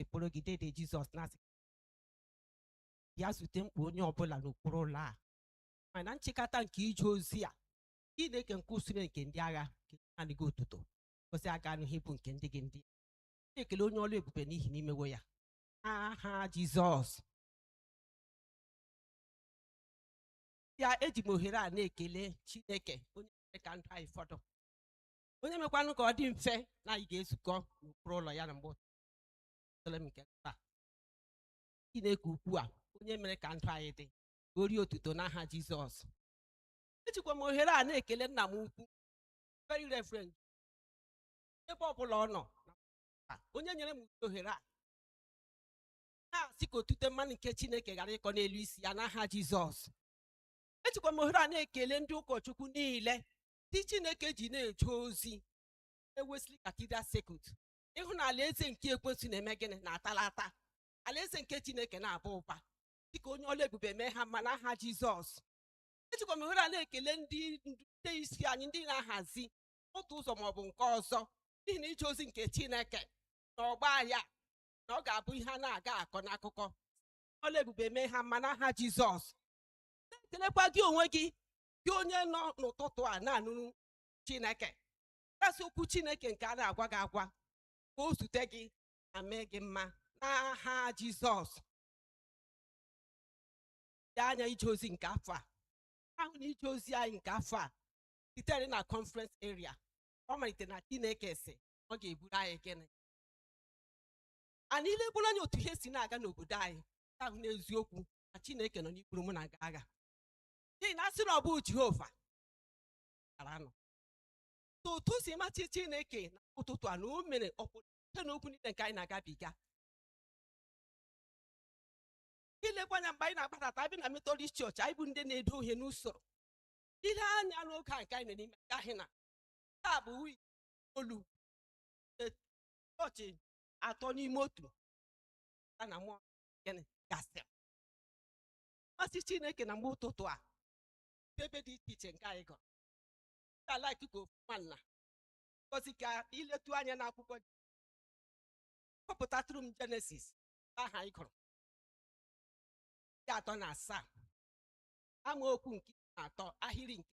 ekporo gị dede jizọs na-asị bịa zute mkpa onye ọbụla n'okpuru ụlọ a mana nchịkọta nke ije ozi a chineke nke usuu nke ndị agha nye naanị gị otuto ngọzi aga anụ ihe bụ nke ndị gị ndị na-ekele onye ọla ebube n'ihi na i mewo ya n'aha jizọs ya eji m ohere a na-ekele chineke onye mere ka ndụ anyị fọdụ onye mekwanụ ka ọ dị mfe na anyị ga-ezukọ n'okpuru ụlọ ya na mgbe ụtụtụ nke taa Chineke ukwu a onye mere ka ndụ anyị dị ka o rie otuto n'aha Jizọs ejikwa m ohere a na-ekele nna m ukwu very reverend ebe ọ bụla ọ nọ onye nyere m ohere a na-asị ka otite mmanụ nke Chineke ghara ịkọ n'elu isi ya n'aha Jizọs ejikwa m ohere a na-ekele ndị ụkọchukwu niile ndị Chineke ji na-eje ozi na Wesley cathedral circuit ị hụ na alaeze nke ekwensu na-eme gịnị na-atalata alaeze nke chineke na-aba ụba dịka onye ọla ebube mee ha mma n'aha jizọs ejikwa m ohere a na-ekele ndị nde isi anyị ndị na-ahazi otu ụzọ maọbụ nke ọzọ n'ihi na ije ozi nke chineke na ọgba ya na ọ ga-abụ ihe a na-aga akọ n'akụkọ ọla ebube mee ha mma n'aha jizọs na-ekelekwa gị onwe gị gị onye nọ n'ụtụtụ a na-anụrụ chineke a sị okwu chineke nke a na-agwa gị agwa ka o zute gị ma mee gị mma n'aha jizọs ile anya ije ozi nke afọ a a hụ na ije ozi anyị nke afọ a sitere na conference area ọ malite na chineke sị ọ ga-eburu anyị gịnị anyị ilegburu anya otu ihe si na-aga n'obodo anyị ga-ahụ n'eziokwu na chineke nọ n'iburu mụ na gị agha n'ihi na a sị na ọ bụghị jehova gara nọ so otu o si masị chineke na ụtụtụ a na o mere ọpụrụ site n'okwu niile nke anyị na-agabiga ilekwa anya mgbe anyị na-agbadata a bịa na metọdist chọọchị anyị bụ ndị na-edo ihe n'usoro ile anya n'oge a nke anyị nọ n'ime nke a hụ na taa bụ wii olu e- chọọchị atọ n'ime otu ya na mmụọ gịnị gasị masị chineke na mgbe ụtụtụ a ebe dị iche iche nke anyị gụrụ ka like ka ofu nwanna ngozi ka i letụ anya n'akwụkwọ gị gụpụtatụrụ m jenesis aha ị gụrụ nke atọ na asaa amaokwu nke iri na atọ ahịrị nke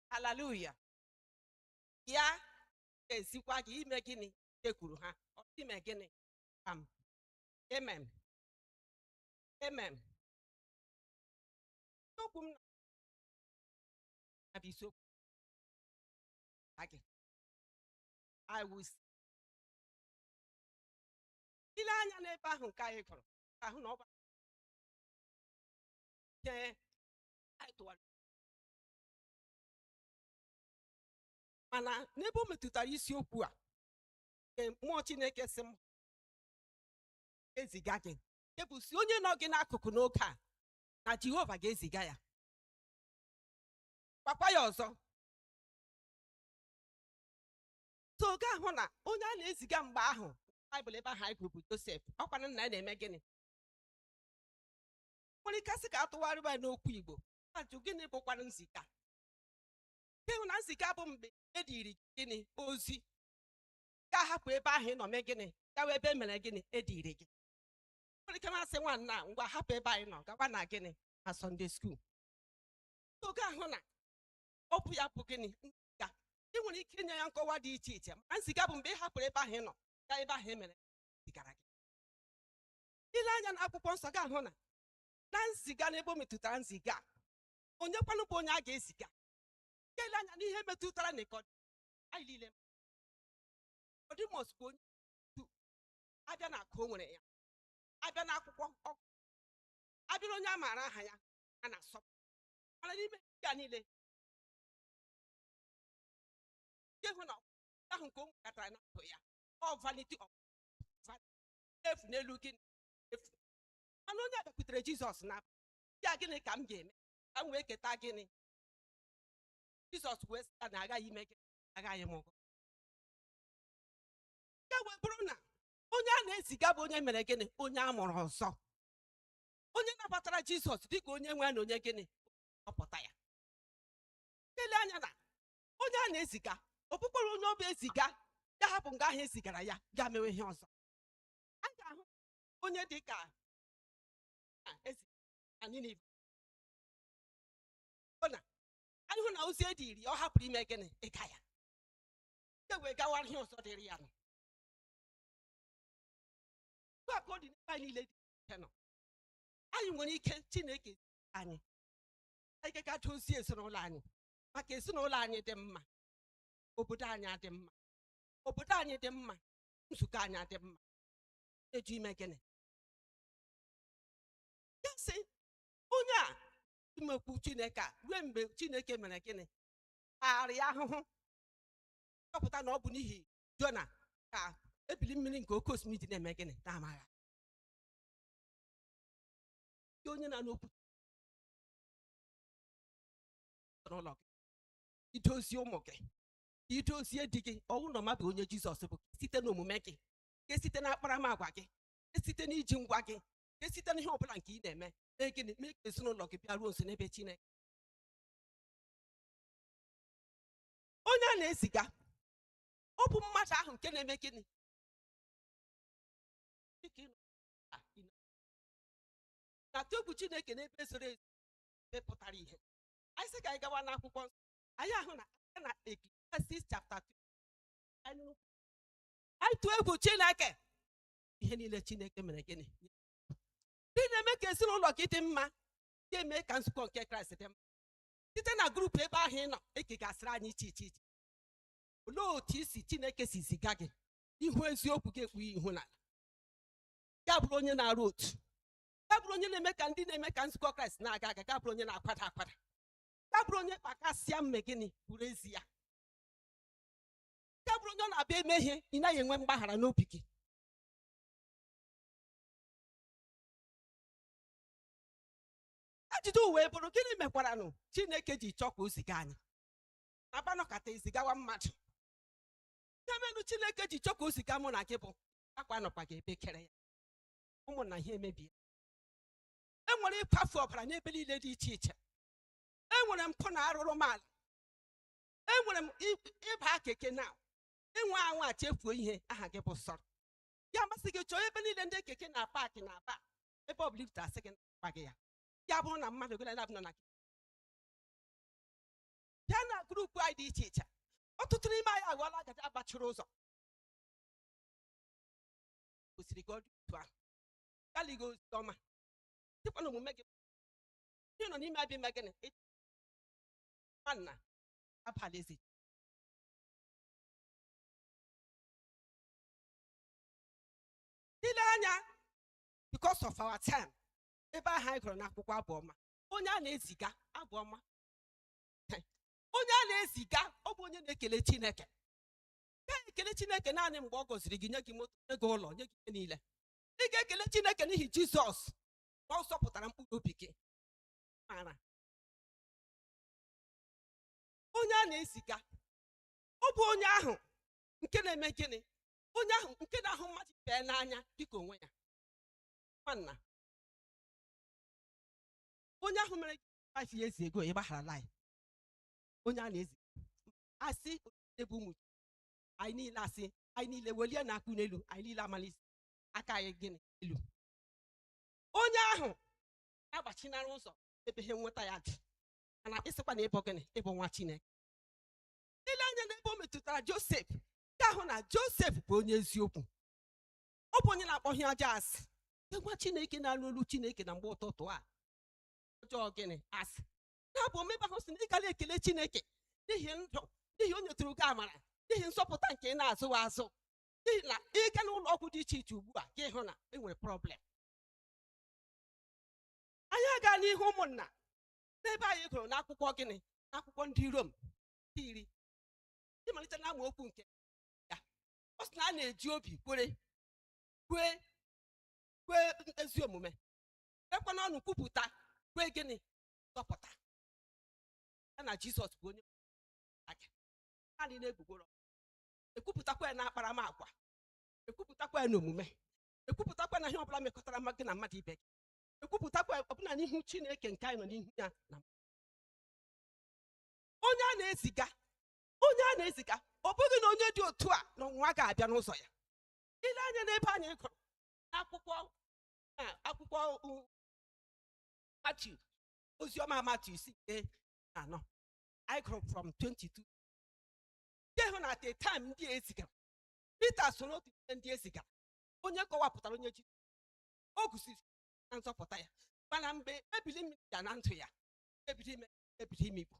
haleluya bịa ka m ziga gị ime gịnị jekwuru ha ọ sị ime gịnị pam emem emem okwu m na bụ isiokwu na gị I will see. i lee anya n'ebe ahụ nke anyị gụrụ ị ga-ahụ na ọ bụ ihe anyị tụwara mana n'ebe o metụtara isiokwu a nke mmụọ chineke sị m eziga gị nke bụ sị onye nọ gị n'akụkụ n'oge a na jehova ga-eziga ya gwakwa ya ọzọ so ị ga-ahụ na onye a na-eziga mgbe ahụ baịbụl ebe ahụ anyị gụrụ bụ josef ọ kwa nna ya na-eme gịnị nwere ike sị ka a tụgharịba ya n'okwu igbo a jụọ gịnị bụkwara nziga ị hụ na nziga bụ mgbe e diri gịnị ozi ga-ahapụ ebe ahụ ị nọ mee gịnị gawa ebe e mere gịnị e diri gị nwere ike m asị nwanna ngwa hapụ ebe anyị nọ gawa na gịnị na sọnde skuul ị ga-ahụ na ọ bụ ya bụ gịnị nziga ị nwere ike inye ya nkọwa dị iche iche ma nziga bụ mgbe ị hapụrụ ebe ahụ ị nọ gaa ebe ahụ e mere zigara gị i lee anya n'akwụkwọ nsọ ga-ahụ na na nziga n'ebe o metụtara nziga onye kwanụ bụ onye a ga-eziga ka e lee anya n'ihe metụtara nikọdimọs bụ onye a bịa n'akụ o nwere ya a bịa n'akwụkwọ ọ gụ a bịa na onye a maara aha ya a na-asọpụrụ mana n'ime nke a niile nke hụ na ahụ nke o nwekatara na ndụ ya ọ vanity of efu n'elu ihe efu mana onye bịakwutere jizọs na ya gịnị ka m ga-eme ka m wee keta gịnị jizọs wee sị ya na aghaghị ime gịnị aghaghị ịmụ gị ọzọ ya wee bụrụ na onye a na-eziga bụ onye mere gịnị onye a mụrụ ọzọ onye nabatara jizọs dịka onye nwe na onye gịnị nzọpụta ya e lee anya na onye a na-eziga ọ bụkwara onye ọ bụ e ziga ya hapụ nga ahụ e zigara ya gaa mewe ihe ọzọ a ga-ahụ onye dị ka Jona e zigara Ninive Ọ na anyị hụ na ozi e diri ya ọ hapụrụ ime gịnị ịga ya e wee gawara ihe ọzọ dịrị ya nọ Otu a ka ọ dị n'ebe anyị niile dị iche nọ anyị nwere ike Chineke zi anyị anyị ga-aga dozie ezinụlọ anyị maka ezinụlọ anyị dị mma obodo anyị adị mma obodo anyị dị mma nzukọ anyị adị mma na-ajụ ime gịnị ya sị onye a imekwu chineke a ruo mgbe chineke mere gịnị arịa ahụhụ chọpụta na ọ bụ n'ihi jona ka ebili mmiri nke oke osimiri ji na-eme gịnị na-amagharị onye na-anụ okwu n'ụlọ gị i dozie ụmụ gị i dozie di gị ọ bụ na mmadụ onye jizọs bụ site n'omume gị ka e site n'akparamagwa gị ka e site n'iji ngwa gị ka e site n'ihe ọbụla nke ị na-eme mee gịnị mee ka ezinụlọ gị bịaruo nso n'ebe chineke onye a na-eziga ọ bụ mmadụ ahụ nke na-eme gịnị Dịka ị nọ na ị na- na-atụ egwu chineke n'ebe zoro ezo ebe pụtara ihe anyị sị ka anyị gawa n'akwụkwọ nsọ anyị ahụ na aka na Ecclesiastes chapter 2 anyị nụ ịtụ egwu chineke ihe niile chineke mere gịnị ndị na-eme ka ezinụlọ gị dị mma ga-eme ka nzukọ nke kraịst dị mma site na grupu ebe ahụ ị nọ e kegasịrị anyị iche iche iche olee otu isi chineke si ziga gị ihu eziokwu gị ekpughe ihu n'ala ya bụrụ onye na-arụ ọrụ ya bụrụ onye na-eme ka ndị na-eme ka nzukọ kraịst na-aga aga ya bụrụ onye na-akwada akwada ya bụrụ onye kpakasịa mee gịnị bụrụ ezi ya nke bụrụ onye ọ na-abụ e mee ihe ị naghị enwe mgbaghara n'obi gị ajụjụ wee bụrụ gịnị mekwaranụ chineke ji chọọ ka o ziga anyị a naghị anọkata e zigawa mmadụ ihe merenụ chineke ji chọọ ka o ziga mụ na gị bụ akwa anọkwaghị ebe e kere ya ụmụnna ihe emebie e nwere ịkwafu ọbara n'ebe niile dị iche iche e nwere mpụ na arụrụala enwere m i- ịba keke na ịnwa anwa chefuo ihe aha gị bụ sọrọ ya masị gị chọọ ebe niile ndị keke na-apaakị n'aba ebe ọ bụla ibute asị gị na gị ya ya bụrụ na mmadụ gị na nọ na bịa na grupu anyị dị iche iche ọtụtụ n'ime anyị aghọọla agada gbachiri ụzọ kwesịrị gị ọdụ otu ahụ galigo ozi ọma dịkwa n'omume gị ndị nọ n'ime abịa ime gịnị nwanna abalịzi ile anya because of our time ebe ahụ anyị gụrụ n'akwụkwọ abụọma onye a na-eziga abụọma onye a na-eziga ọ bụ onye na-ekele chineke ya ekele chineke naanị mgbe ọ gọziri gị nye gị moto nye gị ụlọ nye gị ihe niile ị ga-ekele chineke n'ihi jizọs na ọ zọpụtara mkpụrụ obi gị mara onye a na-eziga ọ bụ onye ahụ nke na-eme gịnị onye ahụ nke na-ahụ mmadụ ibe ya n'anya dịka onwe ya nwanna onye ahụ mere gị five years ago ị gbagharala ya onye a na-ezi asị onye bụ ụmụ gị. anyị niile a sị anyị niile welienụ aka n'elu anyị niile ewelisie aka anyị gịnị elu onye ahụ agbachinara ụzọ ebe ihe nweta ya dị mana ị sịkwa na ị bụ gịnị ị bụ nwa chineke i lee anya n'ebe o metụtara josef ga-ahụ na josef bụ onye eziokwu ọ bụ onye na-akpọ ihe ọjọọ asị Ndị nwa chineke na-anụ olu chineke na mgbe ụtụtụ a ọjọọ gịnị asị n'abụ ọma ebe ahụ sị na ị ga na-ekele chineke n'ihi ndụ n'ihi o nyetụrụ gị amara n'ihi nzọpụta nke ị na-azụ azụ n'ihi na ị gaa n'ụlọ ọgwụ dị iche iche ugbu a gị ahụ na e nwere problem anyị aga n'ihu ụmụnna n'ebe anyị gụrụ n'akwụkwọ gịnị n'akwụkwọ ndị rom nke iri ịmalite na amaokwu nke ya ọ sị na a na-eji obi kwere kwee kwee ezi omume ekwe n'ọnụ kwupụta kwee gịnị nzọpụta ya na jizọs bụ onye aga naanị n'egbugbere ekwupụtakwa ya n'akparamagwa ekwupụtakwa ya n'omume ekwupụtakwa n'ihe ọbụla mekọtara ma gị na mmadụ ibe gị ekwupụtakwa ọbụna n'ihu chineke nke anyị nọ n'ihu ya na onye a na-eziga onye a na-eziga ọ bụghị na onye dị otu a na ọnwụnwa ga-abịa n'ụzọ ya i lee anya n'ebe anyị gụrụ akwụkwọ n'akwụkwọ u- Matiu oziọma Matiu isi nke iri na anọ anyị gụrụ from 22 anyị hụ na at a time ndị e zigara Pita so n'otu n'ime ndị e zigara onye kọwapụtara onye ji o gosiri na nzọpụta ya mana mgbe ebili mmiri bịara na ndụ ya ebido imi ebido imikpu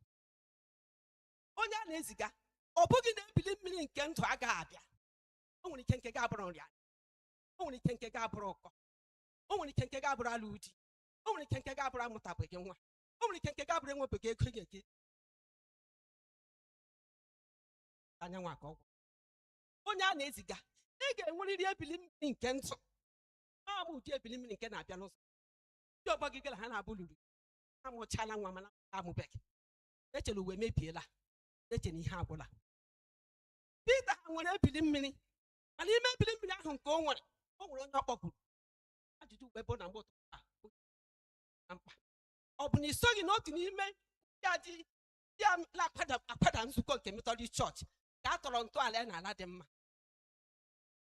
onye a na-eziga ọ bụghị na ebili mmiri nke ndụ agaghị abịa o nwere ike nke gị abụrụ nrịanrịa o nwere ike nke gị abụrụ ụkọ o nwere ike nke gị abụrụ alụ di o nwere ike nke gị abụrụ amụtabeghị nwa o nwere ike nke gị abụrụ enwebeghị ego nye gị anyanwụ aka ọgwụ onye a na-eziga ị ga-enwerịrị ebili mmiri nke ndụ ọ bụ ụdị ebili mmiri nke na-abịa n'ụzọ ndị ọgbọ gị gara ha na-abụ lụrụ amụchala nwa mana ị mụbeghị i chere na ụwa emebiela i chere na ihe agwụla Pita nwere ebili mmiri mana n'ime ebili mmiri ahụ nke o nwere o nwere onye ọ kpọkuru ajụjụ uwe bụ na mgbe ụtụtụ a bụ na mkpa ọ bụ na i soghị n'otu n'ime ndị a dị ndị a na-akwada akwada nzukọ nke metọdist chọọchị ka a tọrọ ntọala ya n'ala dị mma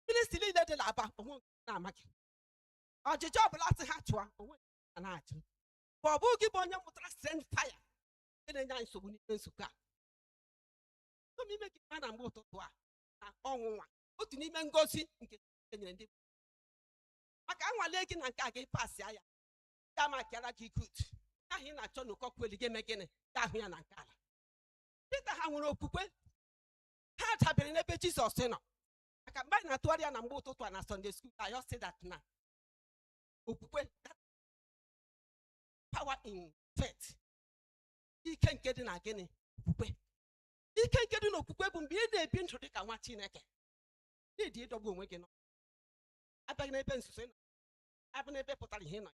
ministri niile dị n'Aba o nwee nke na-amaghị ọchịchị ọbụla sị ha chụọ o nwee nke ha na-achụ ma ọ bụ gị bụ onye mụtara send fire nke na-enye anyị nsogbu n'ime nzukọ a Otu n'ime gị ma na mgbe ụtụtụ a na ọnwụnwa otu n'ime ngozi nke Chineke nyere ndị maka anwale gị na nke a gị pasịa ya ya maakịara gị good ahụ ị na-achọ na ụkọkweli gị eme gịnị ya ahụ ya na nke ala Pita ha nwere okwukwe ha dabere n'ebe Jizọs nọ maka mgbe anyị na-atụgharị ya na mgbe ụtụtụ a na Sunday school I just say that na okwukwe that power in faith ike nke dị na gịnị okwukwe ike nke dị n'okwukwe bụ mgbe ị na-ebi ndụ dị ka nwa Chineke n'ịdị idobe onwe gị nsọ a bịa n'ebe nzuzo ị nọ a bịa n'ebe pụtara ihe ị nọ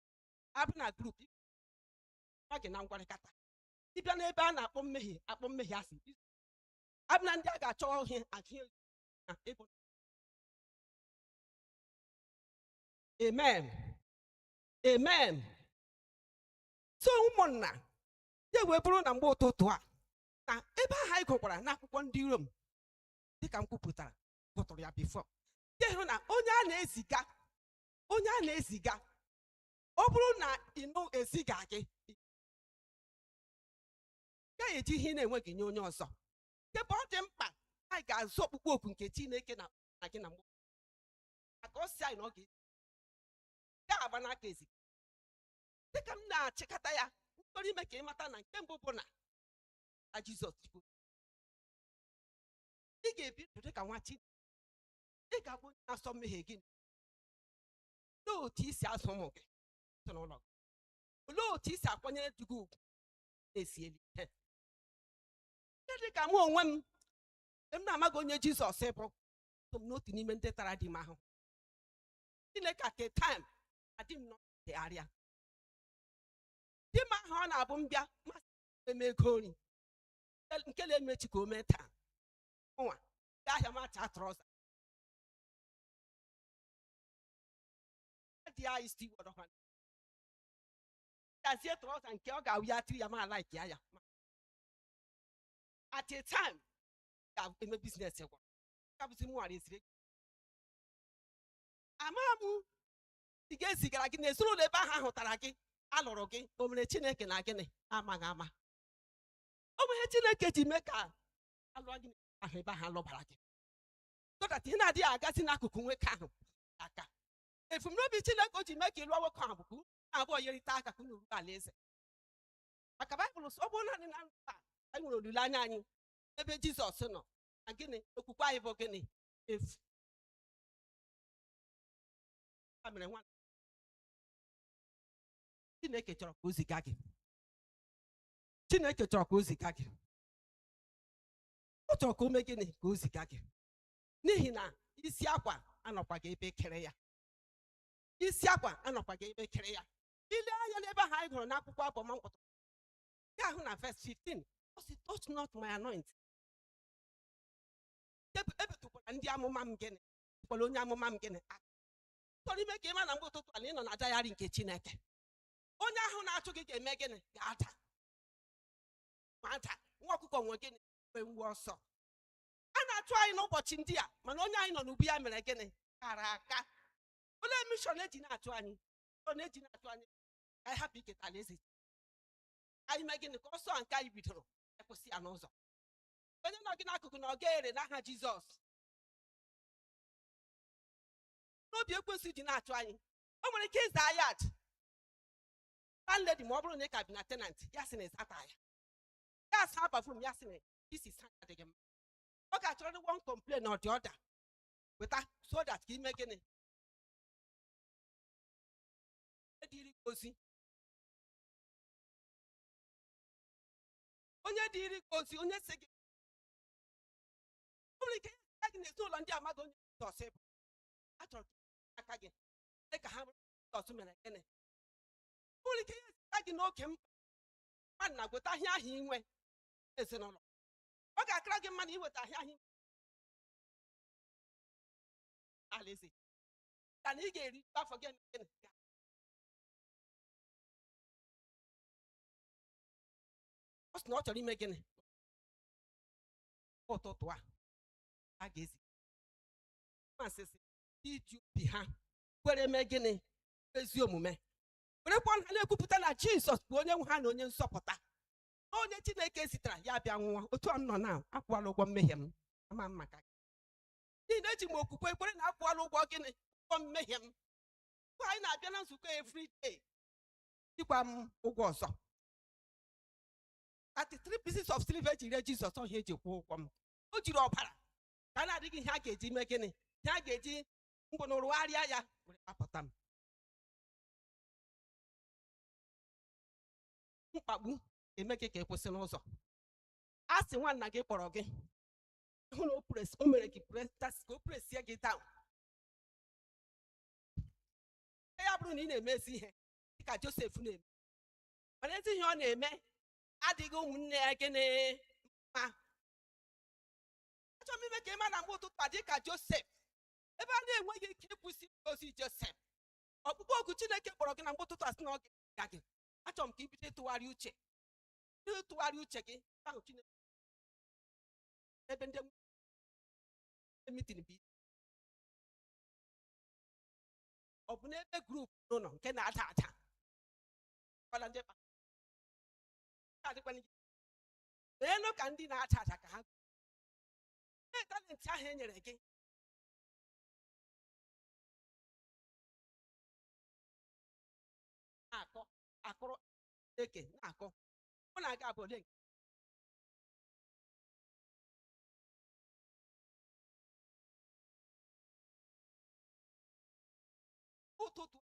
a bịa na group ọ gị na ngwarịkata ịbịa n'ebe a na-akpọ mmehie akpọ mmehie asị a bịa na ndị a ga-achọ ihe agụghị amen amen so ụmụnna ya wee bụrụ na mgbe ụtụtụ a na ebe ahụ anyị gụkwara n'akwụkwọ ndị rom dịka m kwupụtara gụtụrụ ya before ya hụ na onye a na-eziga onye a na-eziga ọ bụrụ na ịnụ eziga gị ị gaghị eji ihe ị na-enweghị nye onye ọzọ ebe ọ dị mkpa anyị ga-aza ọkpụkpọ oku nke chineke na na gị na mgbe maka ọ si anyị na ọ ga-esi ya agba n'aka ezi dịka m na-achịkọta ya m chọrọ ime ka ị mata na nke mbụ bụ na na jizọs chukwu ị ga-ebi ndụ dịka nwa chineke ị ga-abụ onye na-asọ mmehie gị olee otu i si azụ ụmụ gị ezinụlọ gị olee otu i si akwanyere di gị ugwu na-esieli ihe Ihe dị ka mụ onwe m m na-amaghị onye Jizọs bụ so m n'otu n'ime ndị tara di m ahụhụ Chineke at a time adị m n'ọdịgharịa di m ahụ ọ na-abụ m bịa masị eme ego nri nke na-emechi ka o mee taa nwa gaa ahịa mata trouser dị anyị stiwọdọkwa gazie trouser nke ọ ga-awụ ya tiri ya ma like ya ya at a time ga-eme business gwara ka bụzi mụ ghara eziri ego ama m ị ga-ezigara gị na ezinụlọ ebe ahụ ahụtara gị alụrụ gị o mere chineke na gịnị amaghị ama o nwere chineke ji mee ka alụọ gị ahụ ebe ahụ alụbara gị so that ihe na-adịghị agazi n'akụkụ nwoke ahụ aka ebumnobi chineke o ji mee ka ị lụọ nwoke ahụ bụ ka unu abụọ yerịta aka ka unu ruo alaeze maka baịbụl sị ọ bụrụ naanị na ndụ a anyị nwere olileanya anyị ebe jizọs nọ na gịnị okwukwe anyị bụ gịnị efu ya mere nwa chineke chọrọ ka o ziga gị chineke chọrọ ka o ziga gị ọ chọrọ ka o mee gịnị ka o ziga gị n'ihi na isi akwa anọkwaghị ebe e kere ya isi akwa anọkwaghị ebe e kere ya i lee anya n'ebe ahụ anyị gụrụ n'akwụkwọ abụọma mkpọtụ nke ahụ na verse 15 ọ sị touch not my anointing Ebi- ebitukwala ndị amụma m gịnị kwala onye amụma m gịnị aka chọrọ ime ka ị ma na mgbe ụtụtụ a na ị nọ na diary nke chineke onye ahụ na-achụ gị ga-eme gịnị ga-ada ma ada nwa ọkụkọ nwe gịnị mgbe mgbe ọsọ a na-achụ anyị n'ụbọchị ndị a mana onye anyị nọ n'ubu ya mere gịnị kara aka olee mishọn eji na-achụ anyị ọ na-eji na-achụ anyị ka anyị hapụ iketa alaeze ka anyị mee gịnị ka ọsọ a nke anyị bidoro akwụsị ya n'ụzọ onye nọ gị n'akụkụ na ọ gaghị ere n'aha jizọs na ọ bụ ihe ekwensu ji na-achụ anyị o nwere ike ị zaa yard landlady ma ọ bụrụ na ị ka bi na tenant ya sị na ị zataghị ya a saa bathroom ya sị na i si saa ya adịghị mma ọ ga-achọrịrị one complain or the other weta so that ka i mee gịnị ziri gị ozi onye ziri gị ozi onye si gị o nwere ike ya gị n'ezinụlọ ndị amaghị onye Jizọs bụ achọrọ ka aka gị dị ka ha mara Jizọs mere gịnị o nwere ike ya zita gị n'oge mkpa mmadụ na-agweta ahịa ahụ inwe ezinụlọ ọ ga-akara gị mmadụ iweta ahịa ahụ inwe alaeze ka na ị ga-eri afọ gị emeghe na ya ọ sị na ọ chọrọ ime gịnị ụtụtụ a a ga-ezi masịsị iji obi ha kwere mee gịnị ezi omume werekwa ọnụ ha na-ekwupụta na jizọs bụ onye nwe ha na onye nzọpụta na onye chineke zitara ya bịa nwụọ otu a m nọ na akwụọla ụgwọ mmehie m ama m maka gị n'ihi na eji m okwukwe kwere na akwụọla ụgwọ gịnị ụgwọ mmehie m mgbe anyị na-abịa na nzukọ every day ejikwaghị m ụgwọ ọzọ 30 pieces of silver eji ree Jizọs ọ bụghị ya eji kwụọ ụgwọ m o jiri ọbara nke a na-adịghị ihe a ga-eji mee gịnị ihe a ga-eji mgbe na rụgharịa ya were gbapụta m mkpagbu eme gị ka ị kwụsị n'ụzọ a sị nwanna gị kpọrọ gị hụ na o press o mere gị press tas ka o pressie gị down ya bụrụ na ị na-eme ezi ihe dịka josef na-eme mana ezi ihe ọ na-eme adịghị ụmụnne ya gịnị mma achọrọ m ime ka ị ma na mgbe ụtụtụ a dịka josef ebe a na-enweghị ike ịkwụsị ozi josef ọkpụkpọ oku chineke kpọrọ gị na mgbe ụtụtụ a sị na ọ ga gị achọrọ m ka i bido ịtụgharị uche bido ịtụgharị uche gị ahụ chineke ebe ndị mitin bụ isi ọ bụ n'ebe group n'ụlọ nke na-ada ada kwala ndị kpa nke adịkwana gị meenụ ka ndị na-ada ada ka ha mee talent ahụ e nyere gị na-akọ akụrụ eke na-akọ mụ na aga abụ ole nke ụtụtụ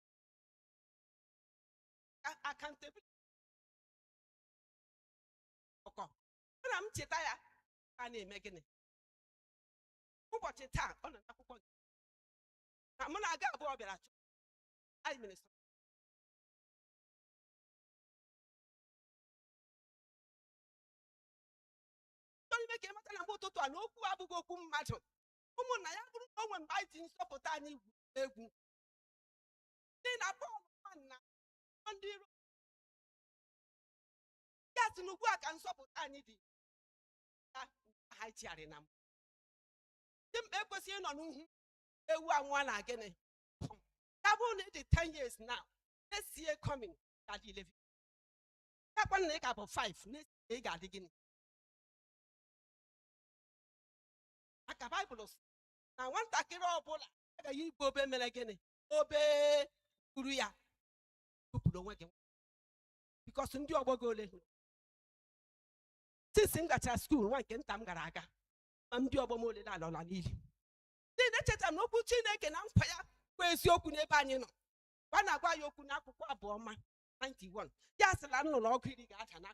accountability ọkọ na m cheta ya a na-eme gịnị ụbọchị taa ọ nọ n'akwụkwọ gị na mụ na gị abụọ bịara chọọchị mere sọ chọrọ ime ka ị mata na mgbe ụtụtụ a na okwu abụghị okwu mmadụ ụmụnna ya bụrụ na o nwee mgbe anyị ji nzọpụta anyị gwuru egwu n'ihi na Pọl ma na ọ ndị Rom ya sị na ugbu a ka nzọpụta anyị dị ya ha chigharị na mbụ dimkpa ekwesịghị ịnọ n'uhu ewu anwụọ na gịnị ya bụrụ na ị dị 10 years now next year coming ka dị 11 ya kwanụ na ị ka bụ 5 next ị ga-adị gịnị aka baịbụl sị na nwatakịrị ọbụla agaghị igbe o bee mere gịnị o bee kuru ya tụpụrụ onwe gị because ndị ọgbọ gị ole hụrụ since m gachara school nwa nke nta m gara aga ma ndị ọgbọ m ole na alaala n'ili ndị na-echeta na okwu chineke na nkwa ya bụ eziokwu n'ebe anyị nọ gwa na-agwa ya okwu n'akwụkwọ abụ ọma 91 ya sị na nnụ na ọgụ iri ga-ada na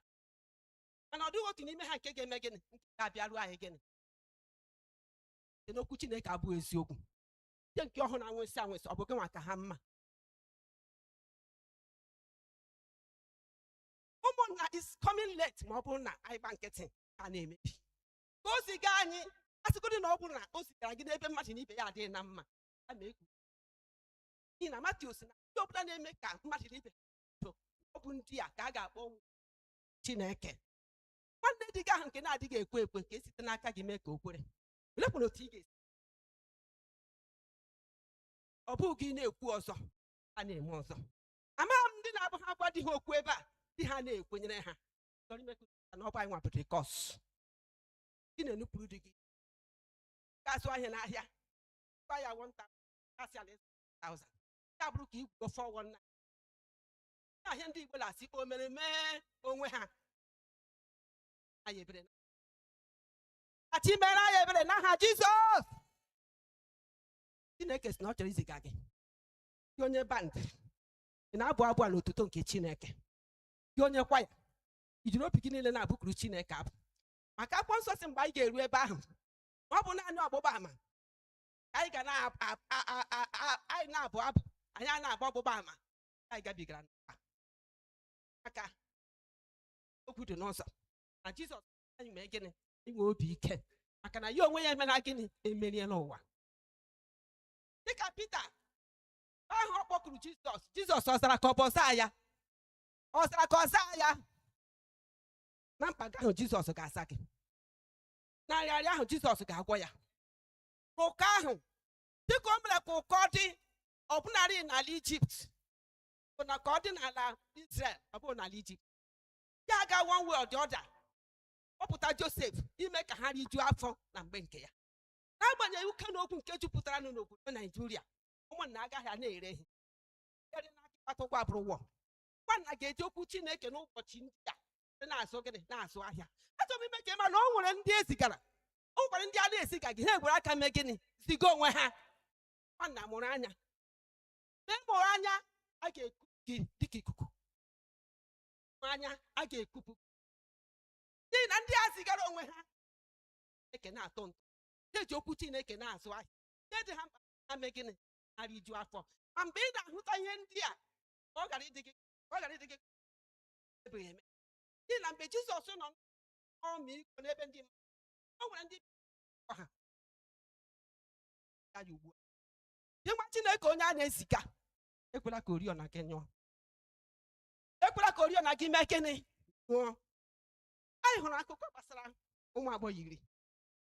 mana ọ dịghị otu n'ime ha nke ga-eme gịnị nke ga-abịaru anyị gịnị site n'okwu chineke abụghị eziokwu ndị nke ọhụ na-anwụsị anwụsị ọ bụ gị nwa ka ha mma ụmụnna it's coming late ma ọ bụrụ na anyị gbaa nkịtị ka a na-emebi ka o ziga anyị asịgodị na ọ bụrụ na o zigara gị n'ebe mmadụ na ibe ya adịghị na mma ya ma ekwu n'ihi na Matiu sị na ndị ọbụla na-eme ka mmadụ na ibe so ọ bụ ndị a ka a ga-akpọ ụmụ chineke nwanne di gị ahụ nke na-adịghị ekwe ekwe ka esite n'aka gị mee ka o kwere olekwanụ otu ị ga-esi ọ bụghị gị na-ekwu ọzọ a na-eme ọzọ amaghị m ndị na-abụ ha gwa di ha okwu ebe a di ha na-ekwenyere ha chọrọ ime ka o cheta na ọ bụ anyị nwapụta kọs gị na-enupụrụ di gị ga-azụ ahịa n'ahịa gwa ya 1000 gasị ala 1000 ya bụrụ ka ị gwugo 419 aha ndị Igbo na-asị o mere mee onwe ha anyị ebere ka Chi mere anyị ebere n'aha Jizọs Chineke sị na ọ chọrọ iziga gị gị onye band ị na-abụ abụ a n'otuto nke Chineke gị onye kwaya i jiri obi gị niile na-abụkuru Chineke abụ maka akwụkwọ nsọ sị mgbe anyị ga-eru ebe ahụ na ọ bụ naanị ọgbụgba ama anyị ga na-ab- ab- a- a- a- a- anyị na-abụ abụ anyị a na-agba ọgbụgba ama anyị gabigara n'ụwa maka okwu dị nsọ na jizọs sị anyị mee gịnị nwee obi ike maka na ya onwe ya emela gịnị emeriela ụwa dịka pita ahụ ọ kpọkuru jizọs jizọs ọ zara ka ọ bụ ọ zaa ya ọ zara ka ọ zaa ya na mkpa gị ahụ jizọs ga-aza gị na nrịarịa ahụ jizọs ga-agwọ ya ka ụkọ ahụ dịka o mere ka ụkọ dị ọbụnarị n'ala ijipt bụ na ka ọ dị n'ala israel ọ bụghị n'ala ijipt ya aga one way or the other kpọpụta josef ime ka ha rijuo afọ na mgbe nke ya n'agbanyeghị uke na ogwu nke jupụtaranụ n'obodo naijiria ụmụnna agaghị a na-ere ihe ere na akịkpata ụgwọ abụrụ ụgwọ nwanna ga-eji okwu chineke n'ụbọchị ndị a site na-azụ gịnị na-azụ ahịa achọrọ m ime ka ị ma na o nwere ndị e zigara o nwekwara ndị a na-ezigaghị ha egwere aka mee gịnị ziga onwe ha nwanna mụrụ anya na mụrụ anya a ga-eku gị dịka ikuku mụrụ anya a ga-ekupụ n'ihi na ndị a zigara onwe ha Chineke na-atọ ntọ ndị eji okwu Chineke na-azụ ahịa ndị dị ha mkpa ha mee gịnị ha riju afọ ma mgbe ị na-ahụta ihe ndị a ọ gara ịdị gị ọ gara ịdị gị ebeghị eme n'ihi na mgbe Jizọs nọ ọmịiko n'ebe ndị mmadụ o nwere ndị ha ya ugbu a gị nwa chineke onye a na-eziga ekwela ka oriọna gị nyụọ ekwela ka oriọna gị mee gịnị nyụọ anyị hụrụ akụkọ gbasara ụmụ agbọghọ iri